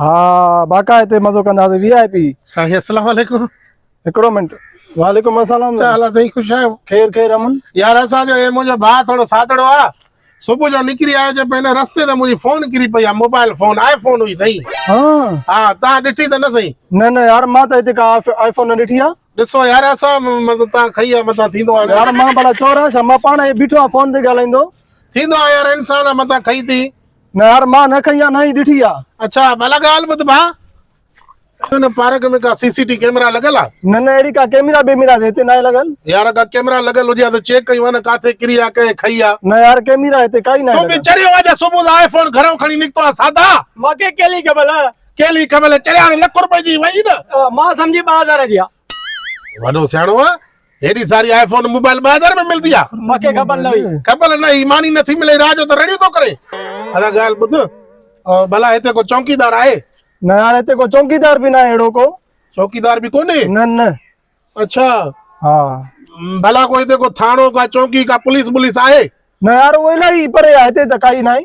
ها باقا هتي مزو ڪنداسي وي آء پي. سائين السلام عليڪم. هڪڙو منٽ. وعليڪم السلام. ڇا حال آ سائين خوش آهيو. خير خير امن. يار اسان جو هي منهنجو ڀاء ٿورو سادڙو آ صبح جو نڪري آيو چي پئي هن رستي تي منهنجي فون ڪري پئي آ موبائل فون آء فون هئي سائين. ها. ها تان ڏٺي ته نه سائين. نه نه يار مان ته هتي ڪا آء فون نه ڏٺي آ. ڏسو يار اسان مطلب تان کئي آ متان ٿيندو آ. يار مان ڀلا چور آ ڇا مان پاڻ هي بيٺو آ فون تي ڳالهائيندو. ٿيندو آ يار انسان آ متان کئي ٿي. نه يار مان نه کئي آ نه ئي ڏٺي آ. اڇا ڀلا ڳالهه ٻڌ ڀاء هن پارڪ ۾ ڪا سي سي ٽي ڪيمرا لڳل آ. نه نه اهڙي ڪا ڪيمرا بيمرا ته هتي ناهي لڳل. يار اگا ڪيمرا لڳل هجي ها ته چيڪ ڪيون ها نه ڪاٿي ڪري آ ڪنهن کئي آ. نه يار ڪيمرا هتي ڪائي ناهي لڳل. تون به چريو آ جو صبح جو آئي فون گهرئون کڻي نڪتو آ سادا. مانکي ڪهلي خبر. ڪهلي خبر چريا هاڻي لک روپين جي وئي نه. مان سمجهي ٻه هزار جي آ. وڏو سياڻو آ هيڏي ساري آئي فون موبائل 2000 ۾ ملدي آ مونکي خبر نه هئي خبر نه هئي ماني نٿي ملي راج جو ته رڙيون ٿو ڪري ادا ڳالهه ٻڌ ڀلا هتي ڪو چوڪيدار آهي نه يار هتي ڪو چوڪيدار به نه اهڙو ڪو چوڪيدار به ڪونهي نه نه اچھا ها ڀلا ڪو هتي ڪو ٿاڻو ڪا چوڪي ڪا پوليس بوليس آهي نه يار اهو الاهي پري آهي هتي ته ڪائي نه آهي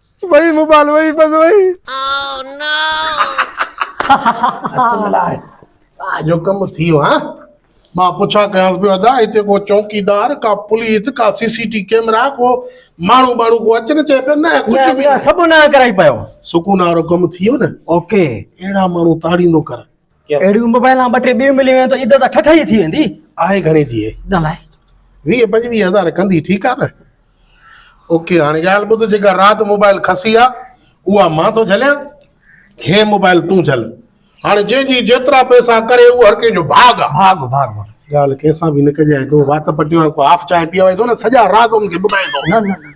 وئي موبائل وئي بس وئي. اتم لاء جو ڪم ٿي ويو ها. مان پڇا ڪيانس پيو ادا هتي ڪو چوڪيدار ڪا پوليس ڪا سي سي ٽي ڪيمرا ڪو ماڻهو ٻاڻهو ڪو اچي نه چئي پيو نه ڪجهه به نه سڀ نانء ڪرائي پيو. سڪون وارو ڪم ٿي ويو نه. اوڪي. اهڙا ماڻهو تاڙيندو ڪر. اهڙيون موبائيلان ٻه ٽي ٻيون ملي ويون ته عدت ٺٺ ئي ٿي ويندي. آهي گهڻي ٿي هي؟ ڳالهاء. ويهه پنجويهه هزار ڪندي ٺيڪ آ نه. او ڪي هاڻي ڳالهه ٻڌ جيڪا رات موبائيل کسي آ اها مان ٿو جهليان هي موبائيل تون جهل هاڻي جنهن جي جيترا پئسا ڪري اهو هر ڪنهن جو ڀاڳ آ. ڀاڳ ڀاڳ ڀاڳ. ڳالهه ڪنهن سان به نه ڪجانء تون وات پٽيء وانگو ڪو هاف چانهه پيئي ويندو نه سڄا راز ان کي ٻڌائيندو. نه نه نه.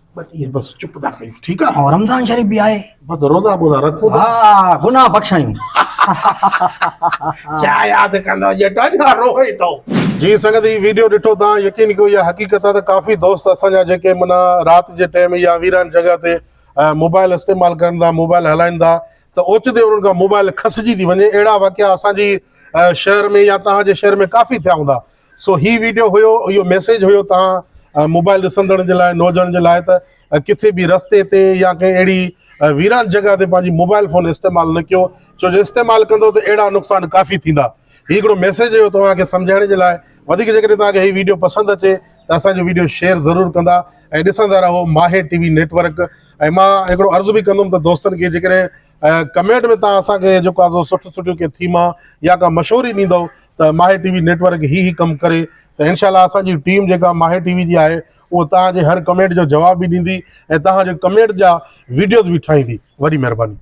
بس ايئن بس چپ ٿا ڪيون ٺيڪ آ ها رمضان شريف به آهي بس روزا بوزا رکو ها گناهه بخشايون ڇا ياد ڪندو جيٽو جو روئي ٿو جي سنگت هي ويڊيو ڏٺو تان يقين ڪيو يا حقيقت آ ته ڪافي دوست اسان جا جيڪي منا رات جي ٽيم يا ويران جڳهه تي موبائل استعمال ڪرن ٿا موبائل هلائين ٿا ته اوچتي انهن کان موبائل کسجي ٿي وڃي اهڙا واقعا اسان جي شهر ۾ يا تان جي شهر ۾ ڪافي ٿيا هوندا سو هي ويڊيو هيو اهو ميسيج هيو توهان موبائل ڏسندڙن جي لاء نوجوانن جي لاء ته ڪٿي به رستي تي يا ڪنهن اهڙي ويران جڳهه تي پنهنجي موبائل فون استعمال نه ڪيو ڇو جو استعمال ڪندو ته اهڙا نقصان ڪافي ٿيندا هي هڪڙو ميسيج هيو توهان کي سمجهائڻ جي لاء وڌيڪ جيڪڏهن توهان کي هي ويڊيو پسند اچي ته اسان جو ويڊيو شيئر ضرور ڪندا ۽ ڏسندا رهو ماهي ٽي وي نيٽورڪ ۽ مان هڪڙو عرض به ڪندم ته دوستن کي جيڪڏهن ۽ ڪمينٽ ۾ تهان اسان کي جيڪو آسو سٺيون سٺيون ڪي ٿيما يا ڪا مشوري ڏيندو ته ماهي ٽي وي نيٽورڪ هي هي ڪم ڪري ته انشاء الله اسان جي ٽيم جيڪا ماهي ٽي وي جي آهي اهو تهان جي هر ڪمينٽ جو جواب به ڏيندي ۽ تهان جي ڪمينٽ جا ويڊيوز به ٺاهيندي وڏي مهرباني.